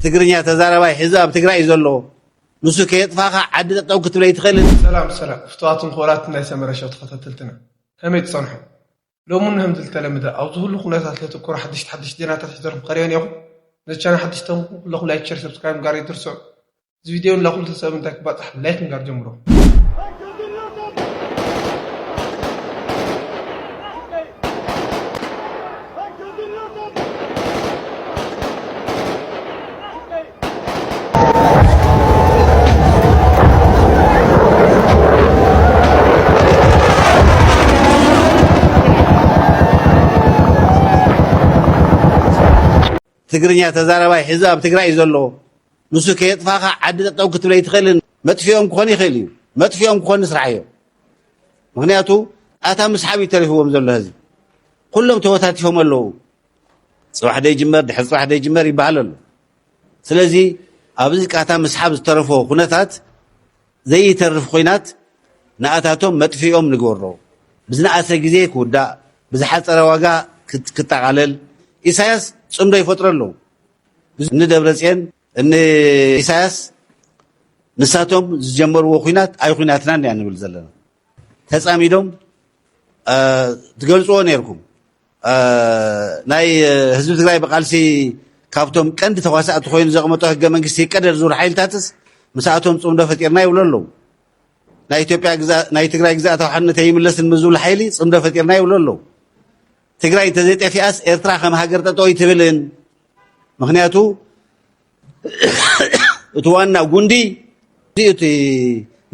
ትግርኛ ተዛራባይ ሕዚ ኣብ ትግራይ እዩ ዘሎ ንሱ ከየጥፋኻ ዓዲ ጠጠው ክትብል ኣይትኽእልን። ሰላም ሰላም ፍቱዋትን ክቡራትን ናይ ሰመረ ሸው ተኸታተልትና ከመይ ትጸንሑ ሎሚ እነሆ ምዚ ልተለምደ ኣብ ዝሁሉ ኩነታት ለትኩሩ ሓደሽቲ ሓደሽቲ ዜናታት ሒዘልኩም ቀሪበ ኔርኹ ነዚ ቻናል ሓደሽቲ ተንኩ ኩለኹም ላይክ ሸር ሰብስክራይብ ምግባር ኣይትርስዑ እዚ ቪድዮ ንላ ኩሉ ተሰብ ምንታይ ክባጻሕ ላይክ ምግባር ጀምሮ። ትግርኛ ተዛረባይ ሕዚ ኣብ ትግራይ እዩ ዘለዎ ንሱ ከየጥፋኻ ዓዲ ጠጠው ክትብል ኣይትኽእልን መጥፊኦም ክኾን ይኽእል እዩ መጥፊኦም ክኾን ስራሕ እዮም ምክንያቱ ኣታ ምስሓብ እዩ ተሪፍዎም ዘሎ ህዝቢ ኩሎም ተወታቲፎም ኣለዉ ፅባሕ ደይጅመር ድሕሪ ፅባሕ ደይጅመር ይበሃል ኣሎ ስለዚ ኣብዚ ቃታ ምስሓብ ዝተረፎ ኩነታት ዘይተርፍ ኩናት ንኣታቶም መጥፍኦም ንግበሮ ብዝነኣሰ ግዜ ክውዳእ ብዝሓፀረ ዋጋ ክጠቓለል ኢሳያስ ፅምዶ ይፈጥሮ ኣለዉ እኒ ደብረፅየን እኒ ኢሳያስ ንሳቶም ዝጀመርዎ ኩናት ኣይ ኩናትናን እያ ንብል ዘለና ተፃሚዶም ትገልፅዎ ነይርኩም ናይ ህዝቢ ትግራይ ብቃልሲ ካብቶም ቀንዲ ተዋሳእቲ ኮይኑ ዘቕመጦ ህገ መንግስቲ ይቀደድ ዝብሉ ሓይልታትስ ምስኣቶም ፅምዶ ፈጢርና ይብሉ ኣለዉ ናይ ኢትዮጵያ ናይ ትግራይ ግዛኣታዊ ሓድነት ኣይምለስን ምስ ዝብሉ ሓይሊ ፅምዶ ፈጢርና ይብሉ ኣለዉ ትግራይ እንተዘይጠፊኣስ ኤርትራ ከም ሃገር ጠጠው ኣይትብልን ምክንያቱ እቲ ዋና ጉንዲ እቲ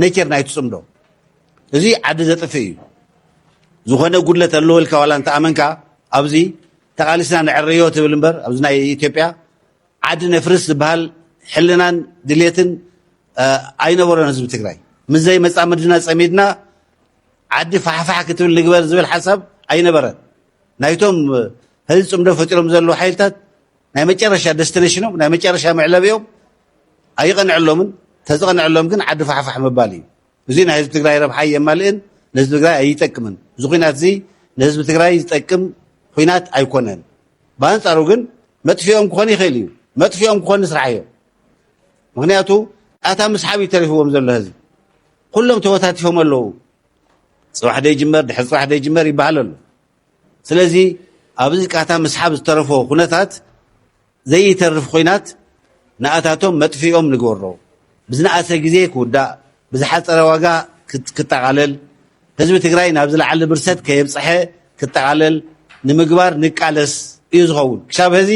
ነቸር ናይቲ ፅምዶ እዚ ዓዲ ዘጥፍእ እዩ ዝኾነ ጉድለት ኣለዎ ኢልካ ዋላ እንተኣመንካ ኣብዚ ተቓሊስና ንዕረዮ ትብል እምበር ኣብዚ ናይ ኢትዮጵያ ዓዲ ነፍርስ ዝበሃል ሕልናን ድሌትን ኣይነበሮን ህዝቢ ትግራይ ምዘይ መፃምድና ፀሚድና ዓዲ ፋሕፋሕ ክትብል ንግበር ዝብል ሓሳብ ኣይነበረን ናይቶም ህዚ ፅምዶ ፈጢሮም ዘለዉ ሓይልታት ናይ መጨረሻ ደስትነሽኖም ናይ መጨረሻ መዕለቢኦም ኣይቐንዐሎምን፣ ተዝቐንዐሎም ግን ዓዲ ፋሕፋሕ ምባል እዩ። እዙይ ናይ ህዝቢ ትግራይ ረብሓ ኣየማልእን፣ ንህዝቢ ትግራይ ኣይጠቅምን። እዚ ኹናት እዚ ንህዝቢ ትግራይ ዝጠቅም ኹናት ኣይኮነን። ብኣንፃሩ ግን መጥፊኦም ክኾን ይኽእል እዩ፣ መጥፊኦም ክኾን ንስራሕዮ። ምክንያቱ ኣታ ምስሓብ እዩ ተሪፍዎም ዘሎ ህዝቢ። ኩሎም ተወታቲፎም ኣለዉ። ፅባሕ ደይጅመር ድሕሪ ፅባሕ ደይጅመር ይበሃል ኣሎ። ስለዚ ኣብዚ ቃታ ምስሓብ ዝተረፎ ኩነታት ዘይተርፍ ኹናት ንኣታቶም መጥፊኦም ንግበሮ። ብዝነኣሰ ግዜ ክውዳእ፣ ብዝሓፀረ ዋጋ ክጠቓለል፣ ህዝቢ ትግራይ ናብ ዝለዓለ ብርሰት ከየብፀሐ ክጠቓለል ንምግባር ንቃለስ እዩ ዝኸውን። ክሻብ ሀዚ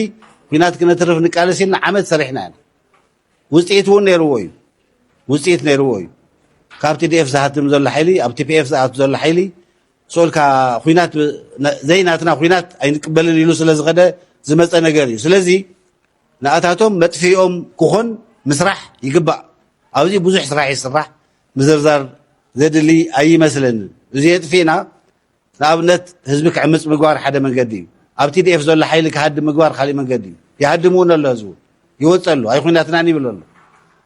ኩናት ክነትርፍ ንቃለስ ኢልና ዓመት ሰሪሕና ኢና። ውፅኢት እውን ነይርዎ እዩ። ውፅኢት ነይርዎ እዩ። ካብ ቲዲኤፍ ዝሃትም ዘሎ ሓይሊ፣ ኣብ ቲፒኤፍ ዝኣቱ ዘሎ ሓይሊ ሶልካ ኹናት ዘይናትና ኹናት ኣይንቅበልን ኢሉ ስለ ዝኸደ ዝመፀ ነገር እዩ ስለዚ ንኣታቶም መጥፊኦም ክኾን ምስራሕ ይግባእ ኣብዚ ብዙሕ ስራሕ ይስራሕ ምዝርዛር ዘድሊ ኣይመስለንን እዚ የጥፊእና ንኣብነት ህዝቢ ክዕምፅ ምግባር ሓደ መንገዲ እዩ ኣብ ቲዲኤፍ ዘሎ ሓይሊ ክሃድም ምግባር ካሊእ መንገዲ እዩ ይሃድምውን ኣሎ ህዝቡ ይወፀሉ ኣይኹናትናን ይብለሉ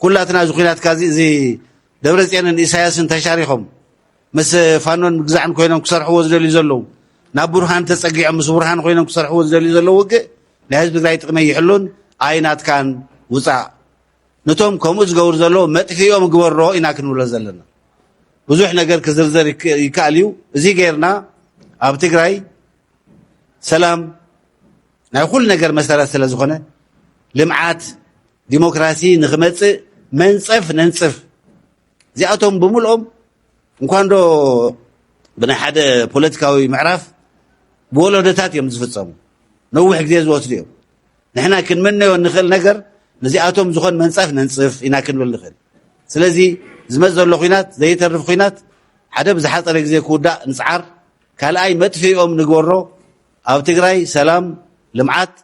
ኩላትና እዚ ኩናትካ እዚ ደብረፅዮንን ኢሳያስን ተሻሪኾም ምስ ፋኖን ምግዛዕን ኮይኖም ክሰርሕዎ ዝደልዩ ዘለዉ ናብ ቡርሃን ተፀጊዖም ምስ ቡርሃን ኮይኖም ክሰርሕዎ ዝደልዩ ዘለዉ ውግእ ናይ ህዝቢ ትግራይ ጥቕሚ ኣይሕሉን ኣይናትካን ውፃእ ነቶም ከምኡ ዝገብሩ ዘለዎ መጥፊኦም ግበሮ ኢና ክንብሎ ዘለና ብዙሕ ነገር ክዝርዘር ይከኣል እዩ እዚ ጌርና ኣብ ትግራይ ሰላም ናይ ኩሉ ነገር መሰረት ስለ ዝኾነ ልምዓት ዲሞክራሲ ንክመፅእ መንፀፍ ነንፅፍ እዚኣቶም ብምልኦም እንኳንዶ ብናይ ሓደ ፖለቲካዊ ምዕራፍ ብወለዶታት እዮም ዝፍፀሙ ነዊሕ ግዜ ዝወስዱ እዮም ንሕና ክንምነዮ እንኽእል ነገር ነዚኣቶም ዝኾን መንፀፍ ነንፅፍ ኢና ክንብል ንኽእል ስለዚ ዝመፅ ዘሎ ኩናት ዘይተርፍ ኩናት ሓደ ብዝሓፀረ ግዜ ክውዳእ ንፅዓር ካልኣይ መጥፍኦም ንግበሮ ኣብ ትግራይ ሰላም ልምዓት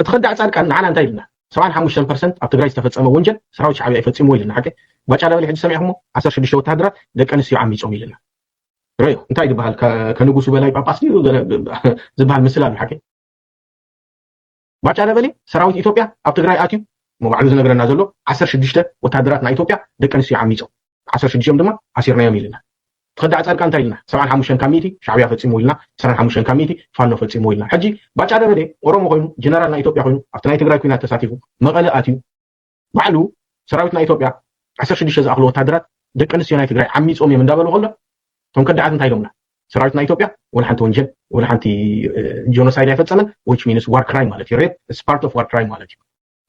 እቲ ከዳዕ ፃድቃን ንዓና እንታይ ኢሉና ሰብዓን ሓሙሽተን ፐርሰንት ኣብ ትግራይ ዝተፈፀመ ወንጀል ሰራዊት ሻዕብያ እዩ ፈፂምዎ ኢሉና ሓቀይ ባጫ ደበሌ ሕጂ ሰሚዕኹሞ ዓሰርተ ሽዱሽተ ወተሃደራት ደቂ ኣንስትዮ ዓሚፆም ኢሉና ረዮ እንታይ ዝበሃል ከንጉሱ በላይ ጳጳስ ድዩ ዝበሃል ምስል ኣሎ ሓቂ ባጫ ደበሌ ሰራዊት ኢትዮጵያ ኣብ ትግራይ ኣትዩ ሞ ባዕሉ ዝነግረና ዘሎ ዓሰርተ ሽዱሽተ ወተሃደራት ናይ ኢትዮጵያ ደቂ ኣንስትዮ ዓሚፆም ዓሰርተ ሽዱሽቲኦም ድማ ኣሲርናዮም ኢልና። ተኸዳዕ ፃድቃን እንታይ ኢልና ሰብዓን ሓሙሽተን ካብ ሚእቲ ሻዕብያ ፈፂምዎ ኢልና ዕስራን ሓሙሽተን ካብ ሚእቲ ፋኖ ፈፂምዎ ኢልና ሕጂ ባጫ ደበሌ ኦሮሞ ኮይኑ ጀነራል ናይ ኢትዮጵያ ኮይኑ ኣብቲ ናይ ትግራይ ኩናት ተሳቲፉ መቐለ ኣትዩ ባዕሉ ሰራዊት ናይ ኢትዮጵያ ዓሰርተ ሽዱሽተ ዝኣኽሉ ወታደራት ደቂ ኣንስትዮ ናይ ትግራይ ዓሚፆም እዮም እንዳበሉ ከሎ እቶም ከዳዓት እንታይ ኢሎምና ሰራዊት ናይ ኢትዮጵያ ወላ ሓንቲ ወንጀል ወላ ሓንቲ ጆኖሳይድ ኣይፈፀመን ዊች ሚንስ ዋር ክራይም ማለት እዩ ሬፕ ስፓርት ኦፍ ዋር ክራይም ማለት እዩ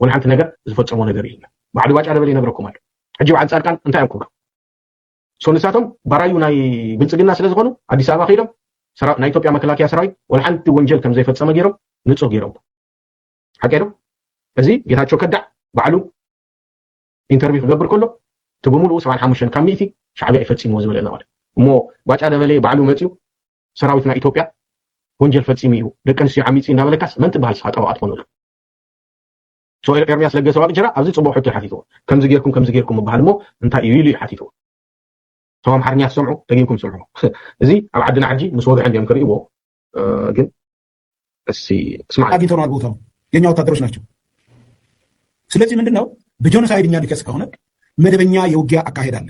ወላ ሓንቲ ነገር ዝፈፀሞ ነገር የለን ባዕሉ ባጫ ደበሌ ይነግረኩም ኣሎ ሕጂ በዓል ፃድቃን እንታይ እዮም ክብሉ ሶ ንሳቶም ባራዩ ናይ ብልፅግና ስለ ዝኾኑ ኣዲስ ኣበባ ከይዶም ናይ ኢትዮጵያ መከላከያ ሰራዊት ወላ ሓንቲ ወንጀል ከም ዘይፈፀመ ገይሮም ንፁህ ገይሮም ሓቂ ዶ እዚ ጌታቸው ከዳዕ ባዕሉ ኢንተርቪው ክገብር ከሎ እቲ ብምሉኡ ሰብዓን ሓሙሽተን ካብ ሚእቲ ሻዕቢያ ይፈፂምዎ ዝበለና ማለት እሞ ባጫ ደበሌ ባዕሉ መፅኡ ሰራዊትና ኢትዮጵያ ወንጀል ፈፂሙ እዩ ደቂ ኣንስትዮ ዓሚፂ እንዳበለካስ መን ትበሃል ስኻ ጠበቓ ትኾነሉ ሶኤል ኤርሚያስ ለገሰ ዋቅጅራ ኣብዚ ጽቡቅ ሕቶ ሓቲትዎ ከምዚ ጌርኩም ከምዚ ጌርኩም ምባሃል እሞ እንታይ እዩ ኢሉ እዩ ሓቲትዎ እቶም ኣምሓርኛ ትሰምዑ ደጊምኩም ስምዑ እዚ ኣብ ዓድና ሕጂ ምስ ወግሐ እንዲዮም ክርእይዎ ግን እሲ ስማ አግኝተነዋል ቦታው የኛ ወታደሮች ናቸው። ስለዚህ ምንድን ነው በጆኖሳይድ እኛ ሊከስ ከሆነ መደበኛ የውጊያ አካሄድ አለ።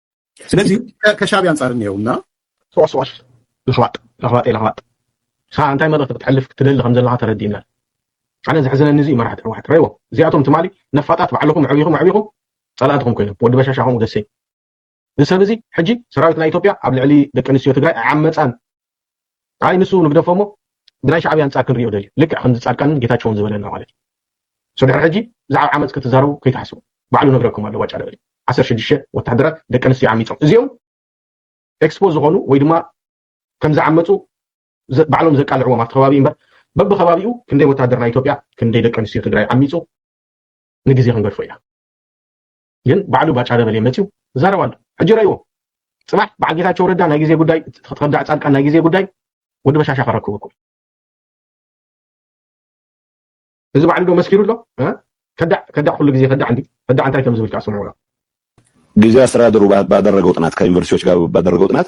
ስለዚ ከሻቢ ኣንጻር እኒአውና ሰዋስዋሽ ለኽባጥ ለኽባጤ ለኽባጥ ንስኻ እንታይ መልእኽቲ ክትሕልፍ ክትደሊ ከም ዘለኻ ተረዲእና ኣነ ዘሕዝነኒ እዚ መራሕቲ ሕወሓት ረይዎ እዚኣቶም ትማሊ ነፋጣት ባዕልኹም ዕብኹም ዕብኹም ጸላእትኹም ኮይኖም ወዲ በሻሻ ከምኡ ደሰይ እዚ ሰብ እዚ ሕጂ ሰራዊት ናይ ኢትዮጵያ ኣብ ልዕሊ ደቂ ኣንስትዮ ትግራይ ዓመፃን ኣይ ንሱ ንግደፎሞ ብናይ ሻዕብያ ኣንጻር ክንሪኦ ደልዩ ልክዕ ከምዚ ጻድቃንን ጌታቸውን ዝበለና ማለት እዩ ሶ ድሕሪ ሕጂ ብዛዕባ ዓመጽ ክትዛረቡ ከይትሓስቡ ባዕሉ ነግረኩም ኣሎ ዋጫ ደበሊ ዓሰርተ ሽዱሽተ ወተሃደራት ደቂ ኣንስትዮ ዓሚጾም እዚኦም ኤክስፖ ዝኾኑ ወይ ድማ ከም ዝዓመጹ ባዕሎም ዘቃልዕዎም ኣብቲ ከባቢ እምበር በብከባቢኡ ክንደይ ወተሃደር ናይ ኢትዮጵያ ክንደይ ደቂ ኣንስትዮ ትግራይ ዓሚጹ ንግዜ ክንገድፎ ኢና ግን ባዕሉ ባጫ ደበሌ መፅዩ ይዛረብ ኣሎ ሕጂ ረእዎ ፅባሕ በዓል ጌታቸው ረዳ ናይ ግዜ ጉዳይ ክትከዳዕ ፃድቃን ናይ ግዜ ጉዳይ ወዲ በሻሻ ከረክበኩም እዚ ባዕሉ ዶ መስኪሩ ኣሎ ከዳዕ ከዳዕ ኩሉ ግዜ ከዳዕ እንዲ ከዳዕ እንታይ ከም ዝብል ከዓ ስምዑ ግዜ አስተዳደሩ ባደረገው ጥናት ከዩኒቨርሲቲዎች ጋር ባደረገው ጥናት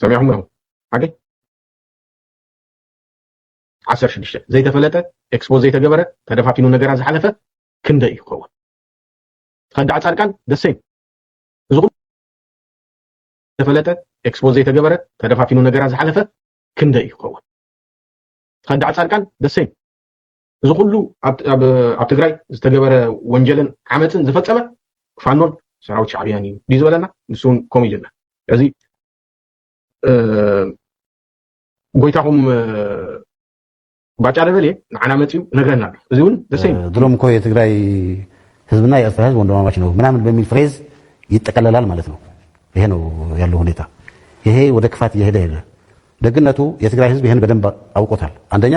ሰሚዕኹም ዲኹም ሓቂ ዓሰርተ ሽዱሽተ ዘይተፈለጠ ኤክስፖዝ ዘይተገበረ ተደፋፊኑ ነገራ ዝሓለፈ ክንደይ እዩ ክኸውን ተኸዳዕ ፃድቃን ደሴም እዚ ተፈለጠ ኤክስፖዝ ዘይተገበረ ተደፋፊኑ ነገራ ዝሓለፈ ክንደይ እዩ ክኸውን ተኸዳዕ ፃድቃን ደሴም እዚ ኩሉ ኣብ ትግራይ ዝተገበረ ወንጀልን ዓመፅን ዝፈፀመ ፋኖን ሰራዊት ሻዕብያን እዩ ድዩ ዝበለና ንሱ እውን ከምኡ እዩ ዝብለና እዚ ጎይታኹም ባጫ ደበልየ ንዓና መፅኡ ነግረና ኣሎ እዚ እውን ደሰይ ድሮም እኮ የትግራይ ህዝብና የኤርትራ ህዝብ ወንድማማች ነው ምናምን በሚል ፍሬዝ ይጠቀለላል ማለት ነው። ይሄ ነው ያለው ሁኔታ። ይሄ ወደ ክፋት እየሄደ ሄደ። ደግነቱ የትግራይ ህዝብ ይህን በደንብ አውቆታል። አንደኛ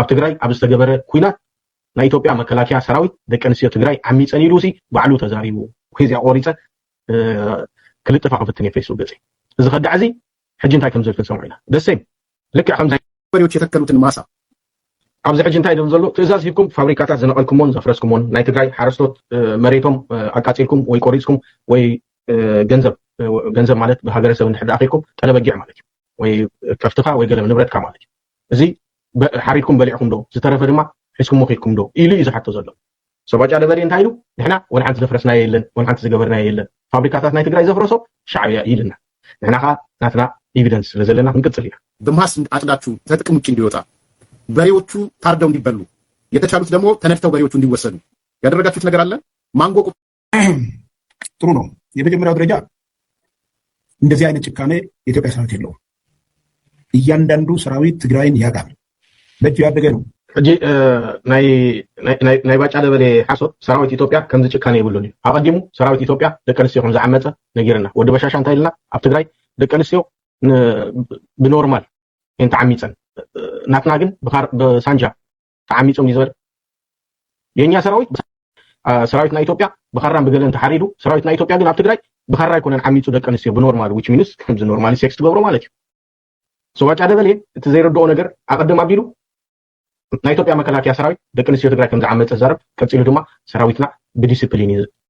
ኣብ ትግራይ ኣብ ዝተገበረ ኩናት ናይ ኢትዮጵያ መከላከያ ሰራዊት ደቂ ኣንስትዮ ትግራይ ዓሚፀን ኢሉ ሲ ባዕሉ ተዛሪቡ ወይ እዚኣ ቆሪፀ ክልጥፋ ክፍትን እየ ፌስቡክ ገፂ እዚ ከዳዕ እዚ ሕጂ እንታይ ከምዘል ክንሰምዑ ኢና ደሴም ልክዕ ከምዚ መሪዎች የተከሉትን ማሳ ኣብዚ ሕጂ እንታይ ደም ዘሎ ትእዛዝ ሂብኩም ፋብሪካታት ዝነቐልኩሞን ዘፍረስኩሞን ናይ ትግራይ ሓረስቶት መሬቶም ኣቃፂልኩም ወይ ቆሪፅኩም ወይ ገንዘብ ገንዘብ ማለት ብሃገረሰብ እንድሕር ኣኺልኩም ጠለበጊዕ ማለት እዩ ወይ ከፍትኻ ወይ ገለም ንብረትካ ማለት እዩ እዚ ሓሪድኩም በሊዕኩም ዶ ዝተረፈ ድማ ሒዝኩሞ ከይድኩም ዶ ኢሉ እዩ ዝሓቶ ዘሎ። ሰባጫ ደበሌ እንታይ ኢሉ ንሕና ወላ ሓንቲ ዘፍረስናዮ የለን ወላ ሓንቲ ዝገበርናዮ የለን ፋብሪካታት ናይ ትግራይ ዘፍረሶ ሻዕብያ እዩ ኢልና ንሕና ከኣ ናትና ኢቪደንስ ስለ ዘለና ክንቅጽል ኢና። ግማሽ አጭዳችሁ ከጥቅም ውጭ እንዲወጣ በሬዎቹ ታርደው እንዲበሉ የተቻሉት ደግሞ ተነድተው በሬዎቹ እንዲወሰዱ ያደረጋችሁት ነገር አለ ማንጎ ጥሩ ነው። የመጀመሪያው ደረጃ እንደዚህ አይነት ጭካኔ የኢትዮጵያ ሰራዊት የለውም። እያንዳንዱ ሰራዊት ትግራይን ያውቃል። በእጁ ያደገ ነው። ሕጂ ናይ ባጫ ደበሌ ሓሶት ሰራዊት ኢትዮጵያ ከምዚ ጭካነ ይብሉን እዩ ኣቐዲሙ ሰራዊት ኢትዮጵያ ደቂ ኣንስትዮ ከም ዝዓመፀ ነጊርና ወዲ በሻሻ እንታይ ኢልና ኣብ ትግራይ ደቂ ኣንስትዮ ብኖርማል እየን ተዓሚፀን ናትና ግን ብሳንጃ ተዓሚጾም እዩ ዝበለ የኛ ሰራዊት ሰራዊት ናይ ኢትዮጵያ ብኻራን ብገለን ተሓሪዱ ሰራዊት ናይ ኢትዮጵያ ግን ኣብ ትግራይ ብኻራ ኣይኮነን ዓሚፁ ደቂ ኣንስትዮ ብኖርማል ዊች ሚንስ ከምዚ ኖርማሊ ሴክስ ትገብሮ ማለት እዩ ሰዋጫ ደበሌ እቲ ዘይረድኦ ነገር ኣቐድም ኣቢሉ ናይ ኢትዮጵያ መከላከያ ሰራዊት ደቂ ኣንስትዮ ትግራይ ከም ዝዓመፀ ዛረብ ቀፂሉ ድማ ሰራዊትና ብዲስፕሊን እዩ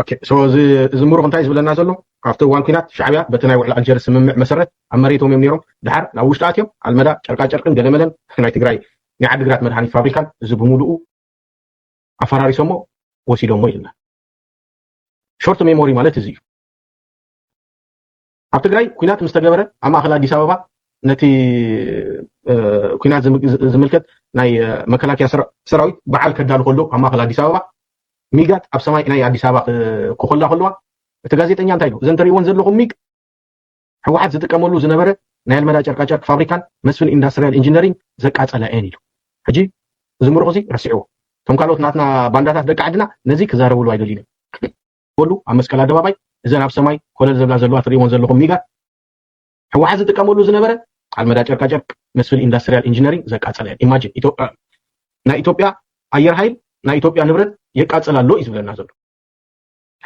ኦኬ ሶ እዚ እዚ ምሩኽ እንታይ እዩ ዝብለና ዘሎ ኣብቲ እዋን ኲናት ሻዕብያ በቲ ናይ ውዕሊ ኣልጀርስ ስምምዕ መሰረት ኣብ መሬቶም እዮም ነይሮም ደሓር ናብ ውሽጢ ኣትዮም ኣልመዳ ጨርቃጨርቅን ገለመለን ናይ ትግራይ ናይ ዓዲግራት መድሃኒት ፋብሪካን እዚ ብምሉኡ ኣፈራሪሶሞ ወሲዶሞ ኢልና ሾርት ሜሞሪ ማለት እዚ እዩ ኣብ ትግራይ ኩናት ምስ ተገበረ ኣብ ማእከል ኣዲስ ኣበባ ነቲ ኩናት ዝምልከት ናይ መከላከያ ሰራዊት በዓል ከዳሉ ከሎ ኣብ ማእከል ኣዲስ ኣበባ ሚጋት ኣብ ሰማይ ናይ ኣዲስ ኣበባ ክኮላ ከለዋ እቲ ጋዜጠኛ እንታይ ኢሉ እዘን ተርእይዎን ዘለኹም ሚግ ህወሓት ዝጥቀመሉ ዝነበረ ናይ ኣልመዳ ጨርቃጨርቂ ፋብሪካን መስፍን ኢንዳስትሪያል ኢንጂነሪንግ ዘቃፀለ እየን ኢሉ ሕጂ እዚ ምሩቕ እዚ ረሲዕዎ እቶም ካልኦት ናትና ባንዳታት ደቂ ዓድና ነዚ ክዛረብሉ ኣይደልዩን ዝርከበሉ ኣብ መስቀል ኣደባባይ እዘን ኣብ ሰማይ ኮለል ዝብላ ዘለዋ ትሪእወን ዘለኹም ሚጋት ህወሓት ዝጥቀመሉ ዝነበረ ኣልመዳ ጨርቃ ጨርቅ መስፍን ኢንዳስትሪያል ኢንጂነሪንግ ዘቃፀለ እየን ኢማጂን ናይ ኢትዮጵያ ኣየር ሃይል ናይ ኢትዮጵያ ንብረት የቃፅል ኣሎ እዩ ዝብለና ዘሎ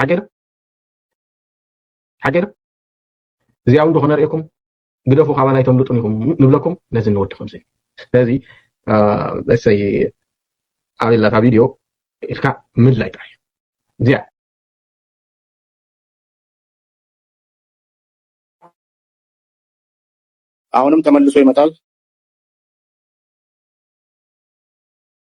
ሓቂዶ ሓቂዶ እዚኣ እውን ዶ ክነርእየኩም ግደፉ ካባና ኣይተምልጡን ኢኹም ንብለኩም ነዚ ንወዲ ከምዚ ስለዚ እሰይ ኣበይ ኣላታ ቪድዮ ኢልካ ምድላይ ጥራሕ እዩ እዚኣ አሁንም ተመልሶ ይመጣል።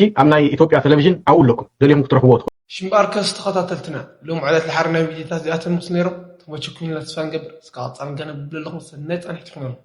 ሕጂ ኣብ ናይ ኢትዮጵያ ተለቪዥን ኣብኡ ኣለኩም ደሊኹም ክትረኽብዎ ትኽእሉ። ሽምባርከስ ተኸታተልትና ሎም ዕለት ልሓሪ ናይ ቪድዮታት እዚኣተን ምስ ነይሮም ተመችኩምና ተስፋ ንገብር እስከ ቀጻሊ ገና ብብለለኹም ሰናይ ጻንሒት ይኹነልኩም።